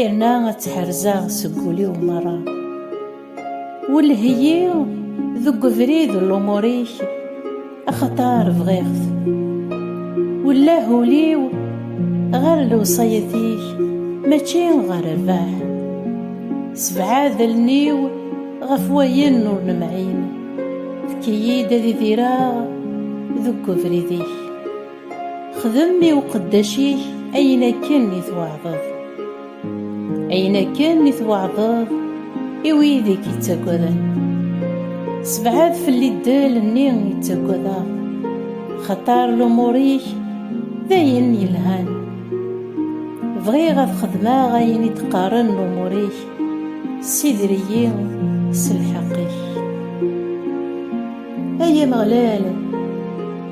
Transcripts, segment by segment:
yerna ad tḥerzaɣ seg wul-iw merra welheyi deg ubrid n lumurik axaṭar bɣiɣ-t wellah ul-iw ɣer lewṣayat-ik mačči ɣer rrbeḥ sebɛed allen-iw ɣef wayen ur nemɛin efk-iyi-d ad idireɣ deg ubrid-ik Xdem i uqeddac-ik ayen akken i tweɛdeḍ, ayen akken i tweɛdeḍ i wid i k-ittaggaden. Sebɛed fell-i ddel-nni i ttaggadeɣ, xaṭer lumuṛ-ik d ayen yelhan. Bɣiɣ ad xedmeɣ ayen i d-qqaren lumuṛ-ik, ssider-iyi s lḥeqq-ik. Ay Ameɣlal!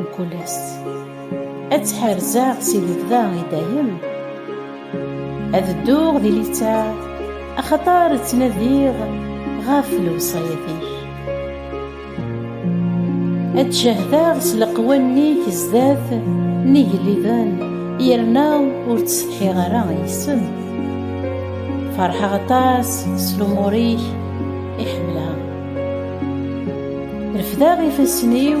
Mkul ass ad tt-ḥerzeɣ si lebda i dayem ad dduɣ di litta axaṭar ttnadiɣ ɣef lewṣayat-ik ad ttcehdeɣ s leqwanen-ik zdat n igelliden yerna ur ttsetḥiɣ ara yes-sen ferḥeɣ aṭas s lumur-ik i ḥemmleɣ refdeɣ ifassen-iw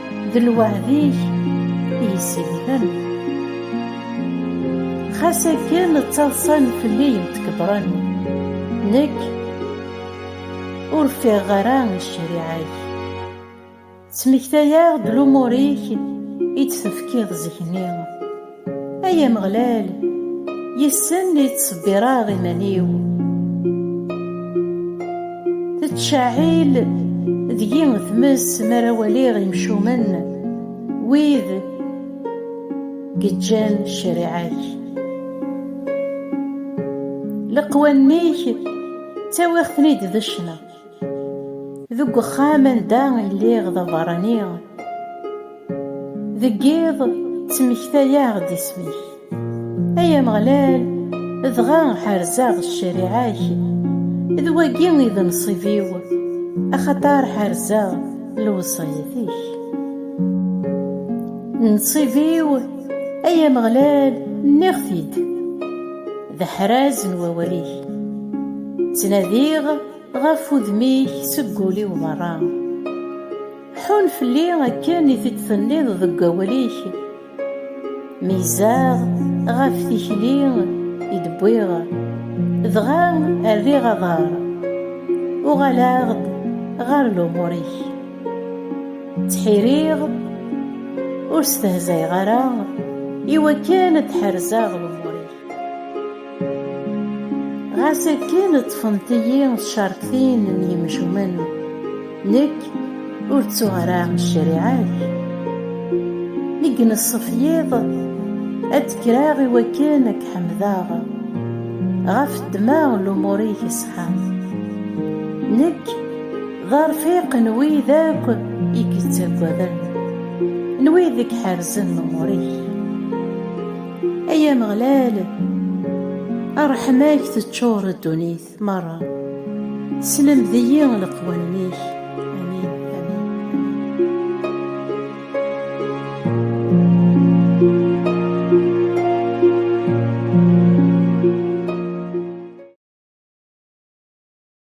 d lweɛd-ik i yessigden xas akken ttaḍsan fell-i yemtkebren nekk ur ffiɣeɣ ara i ccariɛa-k ttmektayeɣ-d lumur-ik i d-tefkiḍ zik-nni Ay Ameɣlal, yes-sen i ttṣebbireɣ iman-iw. Tettcɛil deg-i tmes mi ara waliɣ imcumen, wid geǧǧan ccariɛa-k. Leqwanen-ik ttawiɣ-ten-id d ccna. Deg uxxam anda i lliɣ d abeṛṛani, deg yiḍ ttmektayeɣ-d isem-ik. Ay Ameɣlal, dɣa ḥerzeɣ ccariɛa-k, d wagi i d nnṣib-iw, axaṭer ḥerzeɣ lewṣayat-ik. Nnṣib-iw, ay Ameɣlal, nniɣ-t-id. d aḥraz n wawal-ik Ttnadiɣ ɣef udem-ik seg wul-iw berra Ḥun fell-i akken i t-id-tenniḍ deg wawal-ik Meyyzeɣ ɣef tikli i d-wwiɣ Dɣa rriɣ aḍar Uɣaleɣ-d ɣer lumuṛ-ik Ttḥiriɣ ur stehzayeɣ ara Iwakken ad d-ḥerzeɣ lumuṛ-ik Ɣas akken ṭṭfent-iyi tcerktin n yemcumen, nekk ur ttuɣ ara ccariɛa-k. Mi ineṣṣef yiḍ, ad d-kreɣ i wakken ad k-ḥemdeɣ ɣef ddma n lumuṛ-ik iṣeḥḥan. Nekk d arfiq n wid akk i k-ittaggaden, n wid i iḥerzen lumuṛ-ik. Ay Ameɣlal, ṛṛeḥma-k teččuṛ ddunit meṛṛa, slemd-iyi leqwanen-ik. Amin, amin, amin.